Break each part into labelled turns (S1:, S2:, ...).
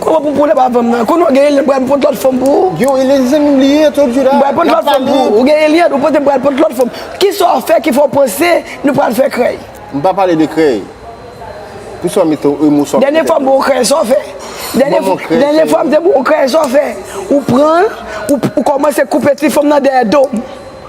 S1: Koman pou pwolèm
S2: avanm nan. Konnen w gen Eliante bral pot lòt fanm pou ou. Yo Eliante zanmim li
S1: ye tout jou la. Bral pot lòt fanm pou ou. Ou gen
S2: Eliante ou pote bral pot lòt fanm. Kisa w fè ki fè w panse nou pral fè krèy. M pa pale de
S1: krèy. Pousa w mete yon emosyon nan tèt mwen. Dènye fwa m ba w krèy
S2: sa w fè. Dènye fwa m te ba w krèy sa w fè. Ou pran l ou kòmanse koupe ti fanm nan dèyè do m.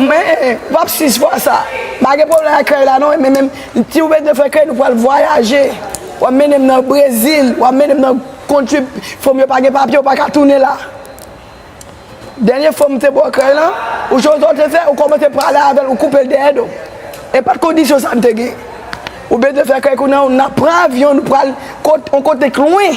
S2: Mwen pap 6 fwa sa. Pa gen pwoblèm ak krèy la non men menm si ou bezwen fè krèy nou pral vwayaje w ap mennen m nan Brezil w ap mennen m nan kontri fo m yo pa gen papye ou pa ka tounen la Dènye fwa m te ba w krèy lan ou sonje sa w te fè ou kòmanse pale avè l ou koupe l dèyè do e pa t kondisyon sa m te gen Ou bezwen fè krèy kounye a ou nan pran avyon nou pral yon kote k lwen.